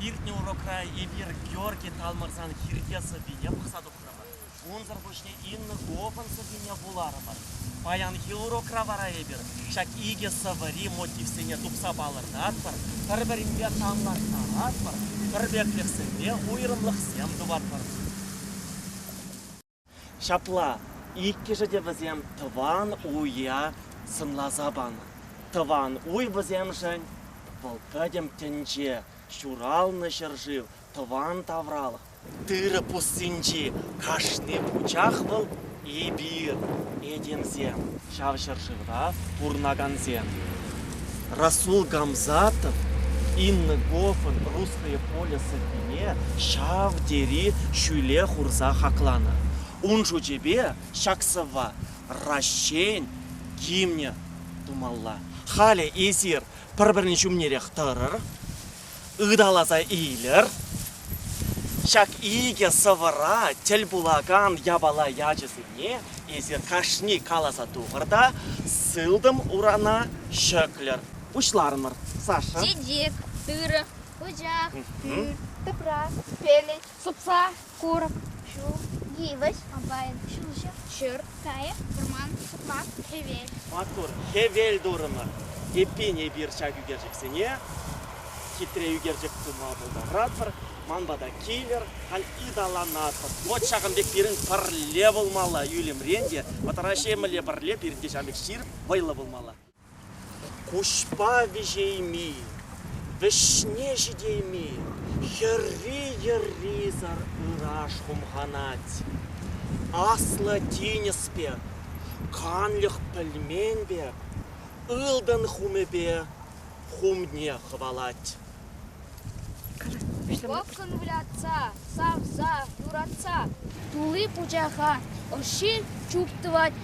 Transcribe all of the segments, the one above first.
Иртнӗ урокра эпир Георги Талмӑрсан хирте сӑввине пӑхса тухрӑмӑр. Унсӑр пуҫне Инна Говӑн сӑввине вуларӑмӑр. Паянхи урокра вара эпир ҫак икӗ сӑвӑри мотивсене тупса палӑртатпӑр, пӗр-пӗринпе танлаштаратпӑр, пӗрпеклӗхсемпе уйрӑмлӑхсем тупатпӑр. Ҫапла, иккӗшӗ те вӗсем тӑван уя сӑнласа панӑ. Тӑван уй вӗсемшӗн вӑл пӗтӗм тӗнче, ҫуралнӑ ҫӗршыв, тӑван тавралӑх. Тырӑ пуссинчи кашни пучах вӑл, эпир, этемсем. Ҫав ҫӗршывра пурӑнакансем Расул Гамзатов Инна Гофӑн Русское поле сӑввине ҫав тери ҫӳле хурса хакланӑ. Ун шучӗпе ҫак сӑвва Раҫҫейӗн гимнӗ тумалла. Халӗ эсир пӗр-пӗрин ҫумнерех тӑрӑр. Ыталаса илер. Ҫак икӗ сӑвӑра тӗл пулакан япала ячӗсене эсир кашни каласа тухӑр та сылтӑм урана ҫӗклӗр. Пуҫларӑмӑр. Саша. Чечек, тырӑ, пучах, пӳрт, тӑпра, пелӗт, сӑпса, Курӑк, ҫул, йывӑҫ, комбайн, ҫулҫӑ, ҫыр, кайӑк, вӑрман, сукмак, хӗвел. Маттур, хӗвел турӑмӑр. Эппин, эпир ҫак ӳкерчӗксене хитре ӳкерчӗк тума пултаратпӑр. Ман пата килӗр, халь ыталанатпӑр. Вӑт ҫакӑн пек пирӗн пӗрле пулмалла, ӳлӗмрен те, вӑтӑра ҫемӗлле пӗрле пирӗн те ҫавӑн пек ҫирӗп вӑйлӑ пулмалла. Куҫпа виҫейми, вӗҫне ҫитейми хӗрри-йӗррисӗр ыраш хумханать. Аслӑ тинӗс пек, канлӗх пӗлмен пек, ылтӑн хумӗпе хумне хӑвалать. Пӑкӑн вылятса, савса, юратса. Тулли пучаха, ӑшши чуп тӑвать.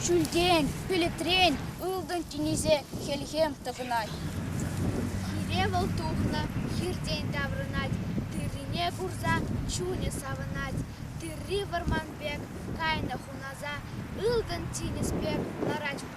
Ҫӳлтен, пӗлӗтрен ылтӑн тинӗсе хӗлхем тӑхӑнать. Хире вӑл тухнӑ, хиртен таврӑнать. Тыррине курса чунӗ савӑнать. Тырри вӑрман пек кайнӑ хунаса. Ылтӑн тинӗс пек ларать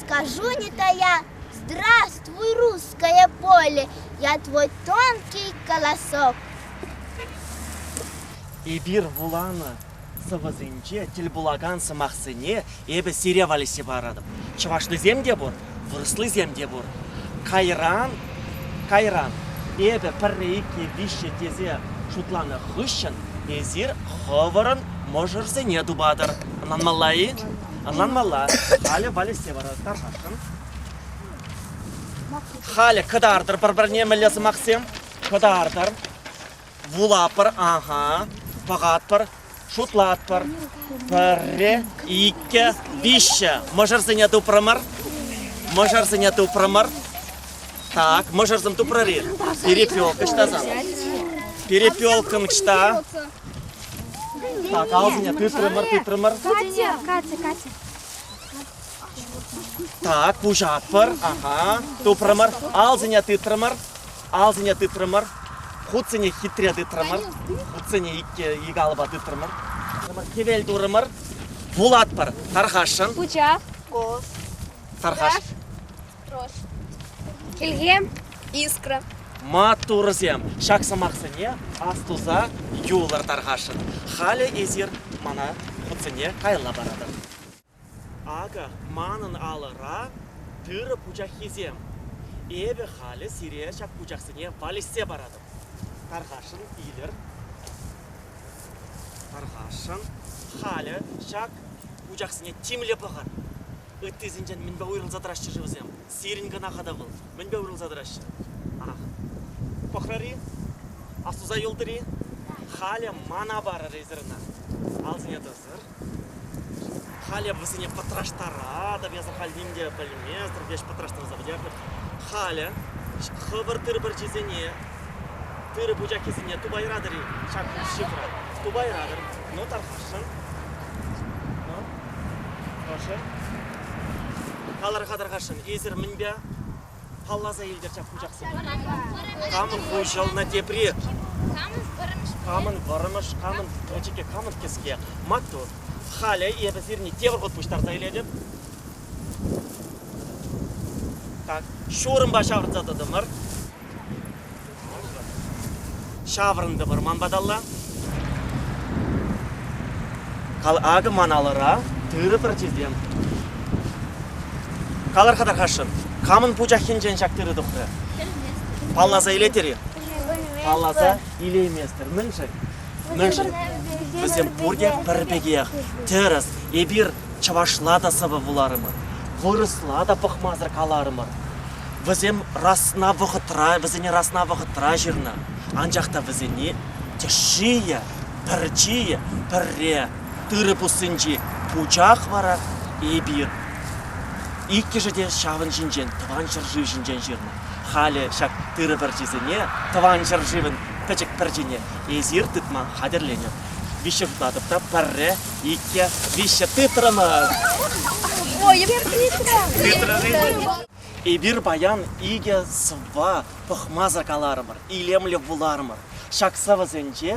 Скажу не тая, здравствуй, русское поле, я твой тонкий голосок. Эпир вуланӑ сӑвӑсенче тӗл пулакан сӑмахсене эпӗ сире валеҫсе паратӑп. Чӑвашлисем те пур, вырӑслисем те пур. Кайран, кайран эпӗ пӗрре, икке, виҫҫе тесе шутланӑ хыҫҫӑн эсир хӑвӑрӑн мӑшӑрсене тупатӑр. Ӑнланмалла-и? Ӑнланмалла, халӗ валеҫсе парасшӑн. Халӗ кӑтартӑр пӗр-пӗрне мӗнле сӑмахсем? Кӑтартӑр. Вулатпӑр, ага, пӑхатпӑр, шутлатпӑр. Пӗрре, иккӗ, виҫҫӗ. Мӑшӑрсене тупрӑмӑр. Мӑшӑрсене тупрӑмӑр. Так, мӑшӑрсем тупрӑр-и? Перепелка ҫтасан. Перепелкам ҫта. Так, алсине тытрӑмӑр, тытрӑмӑр. Катя, Катя, Катя. Так, куҫатпӑр. Ага. Тупрӑмӑр. Алсине тытрӑмӑр. Алсине тытрӑмӑр. Хутсене хитре тытрӑмӑр. Хутсене икке ик алӑпа тытрӑмӑр. Хӗвел турӑмӑр. Вулатпӑр. Тархасшӑн. Пучах. Кос. Тархаш. Хӗлхем, искра. Маттурсем, ҫак сӑмахсене астуса юлӑр тархасшӑн. Халӗ эсир мана хутсене каялла паратӑр. Акӑ, манӑн алӑра тырӑ пучаххисем. Эпӗ халӗ сире ҫак пучахсене валеҫсе паратӑп. Тархасшӑн, илер. Тархасшӑн, халӗ ҫак пучахсене тимлӗ пӑхӑр. Ыттисенчен мӗнпе уйрӑлса тӑраҫҫӗ-ши вӗсем? Сирӗн кӑна-ха та вӑл. Мӗнпе уйрӑлса тӑраҫҫӗ? Арах. Пӑхрӑр-и? Астуса юлтӑр-и? Халӗ мана парӑр эсир ӑна. Алсине тӑсӑр. Халӗ вӗсене пӑтраштаратӑп, я сахаль ним те пӗлместӗп, леш пӑтраштарса пӗтерӗпӗр. Халӗ хӑвӑр тыр пӗрчисене, тыр пучаххисене тупайратӑр-и? Ҫак шифра тупайратӑр. Ну, тархасшӑн. Ну? Ӑшӑ. Калӑр-ха тархасшӑн, эсир мӗнпе палласа илтӗр ҫак пучахсене? Камӑн хуҫӑлнӑ тепри? Камӑн вӑрӑмӑш, камӑн пӗчӗкӗ, камӑн кӗске? Маттур. Халӗ эпӗ сирне те вӑхӑт пуҫтарса илетӗп. Так, ҫурӑмпа ҫавӑрса тӑтӑмӑр. Ҫаврӑнтӑпӑр ман паталла. Кал акӑ ман алӑра тырӑ пӗрчисем. Калӑр-ха тархасшӑн, камӑн пучаххинчен ҫак тырӑ тухрӗ? Палласа илетӗр-и? Палласа илейместӗр. Мӗншӗн? Мӗншӗн? Вӗсем пурте пӗр пекех. Тӗрӗс, эпир чӑвашла та сӑвӑ вуларӑмӑр, вырӑсла та пӑхмасӑр каларӑмӑр. Вӗсем расна вӑхӑтра, вӗсене расна вӑхӑтра ҫырнӑ, анчах та вӗсене тӗшшийӗ, пӗрчийӗ пӗрре, тырӑ пуссинчи пучах вара эпир иккӗшӗ те ҫавӑн ҫинчен тӑван ҫӗршыв ҫинчен ҫырнӑ. Халӗ ҫак тырӑ пӗрчисене, тӑван ҫӗршывӑн пӗчӗк пӗрчине эсир тытма хатӗрленӗр. Виҫҫе тытатӑп та пӗрре, икке, виҫҫе тытрӑмӑр. Ой, Петра! Петра, Эпир паян икӗ сӑвва пӑхмасӑр каларӑмӑр, илемлӗ вуларӑмӑр. Ҫак сӑвӑсенче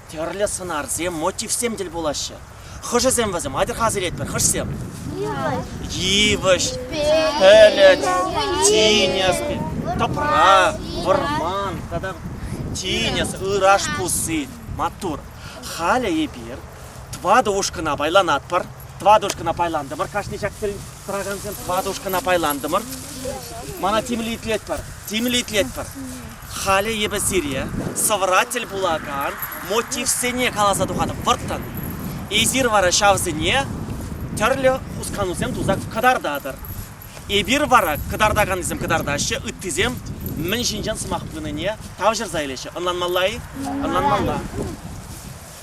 тӗрлӗ сӑнарсем, мотивсем тӗл пулаҫҫӗ. Хӑшӗсем вӗсем атьӑр-ха асилетпӗр, хӑшсем? Йывӑҫ, пӗлӗт, тинӗс, тӑпра, вӑрман тата тинӗс, ыраш пусси, маттур. Халӗ эпир тӑватӑ ушкӑна пайланатпӑр. Тӑватӑ ушкӑна пайлантӑмӑр кашни ҫак Тӑракансем тӑватӑ ушкӑна пайлантӑмӑр. Мана тимлӗ итлетпӗр, тимлӗ итлетпӗр. Халӗ эпӗ сире сӑвӑра тӗл пулакан мотивсене каласа тухатӑп вӑрттӑн. Эсир вара ҫавсене тӗрлӗ хусканусем туса кӑтартатӑр. Эпир вара кӑтартаканнисем кӑтартаҫҫӗ, ыттисем мӗн ҫинчен сӑмах пынине тавҫӑрса илеҫҫӗ. Ӑнланмалла-и? Ӑнланмалла.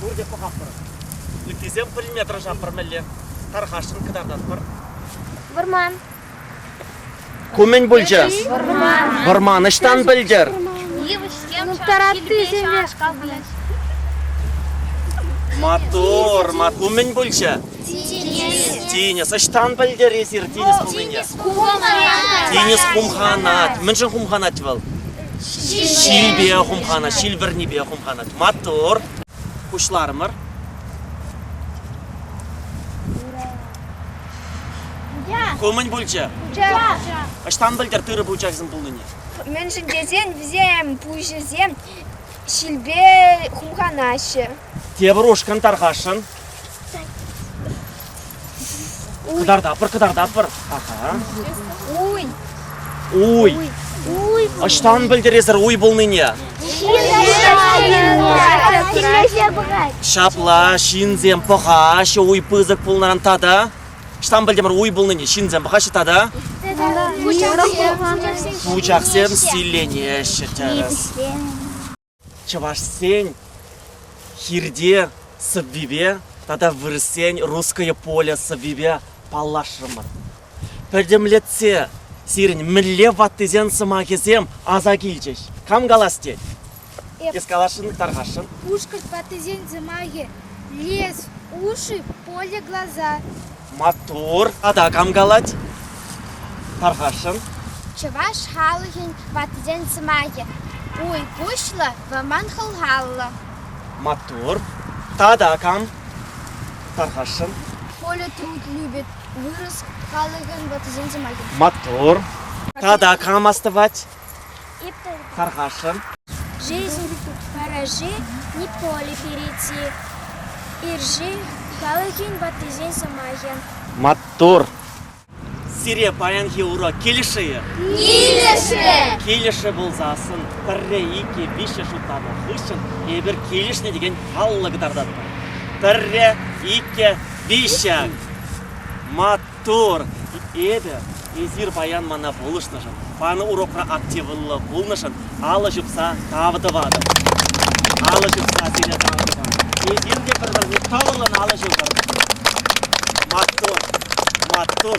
пурте пӑхатпӑр. Ӳккисем пӗлме тӑрӑшатпӑр мӗнле. Тархасшӑн кӑтартатпӑр. Вӑрман. Ку мӗн пулчӗ? Вӑрман. Вӑрман ӑҫтан пӗлтӗр? Йывӑҫсем. Таратти семпе шкапнӑҫ. Матур, матур. Мӗн пулчӗ? Тинӗс. Тинӗс. Ӑҫтан пӗлтӗр эсир тинӗс пулнине? Хумханат. Тинӗс хумханать. Мӗншӗн хумханать вӑл? Ҫилпе хумхана, ҫил вӗрнипе хумхана маттур. Пуҫларӑмӑр. Ку мӗн пулчӗ? Ӑҫтан пӗлтӗр тырӑ пучахӗсем пулнине? Мӗншӗн тесен вӗсем пуҫӗсем ҫилпе хумханаҫҫӗ. Тепӗр ушкӑн тархасшӑн. Кӑтартатпӑр, кӑтартатпӑр. Ага. Уй. Уй. Уй. Ӑҫтан пӗлтересӗр уй пулнине? Ҫапла, ҫынсем пӑхаҫҫӗ уй пысӑк пулнӑран тата. Ӑҫтан пӗлтӗмӗр уй пулнине? Ҫынсем пӑхаҫҫӗ тата? Пучахсем силленеҫҫӗ. чӑвашсен хирте сӑввипе тата вырӑссен русское поле сӑввипе паллашрӑмӑр. Пӗтӗмлетсе сирӗн мӗнле ваттисен сӑмахӗсем аса килчӗҫ. Кам калас тет? Эп. Эс каласшӑн, тархасшӑн. Пушкӑрт ваттисен сӑмахӗ. Лес, уши, поле, глаза. Маттур! Тата кам калать? Тархасшӑн. Чӑваш халӑхӗн ваттисен сӑмахӗ Уй куҫлӑ, вӑман хӑлхаллӑ. Маттур. Тата кам? Тархасшӑн. Коля Труд любит вырӑс халӑхӗн ваттисен сӑмахӗ. Маттур. Тата кам астӑвать? Тархасшӑн. Параши, Николи перейти, Ирши, халӑхӗн ваттисен сӑмахӗ. Маттур! Сире паянхи урок килӗшӗ-и? Килӗшӗ! Килӗшӗ пулсассӑн пӗрре, иккӗ, виҫҫӗш утанӑ хыҫҫӑн эпир килӗшнӗ текен паллӑ кӑтартатпӑр. Пӗрре, иккӗ, виҫҫӗ. Мат Тӑр, эпӗ, эсир паян мана пулӑшнӑшӑн, панӑ урокра активлӑ пулнӑшӑн алӑ ҫупса тав тӑватӑп. Алӑ ҫупса пире тав тӑвӑр. Эсир те пӗр-пӗрне тӑвӑллӑн алӑ ҫупӑр. Маттур, маттур.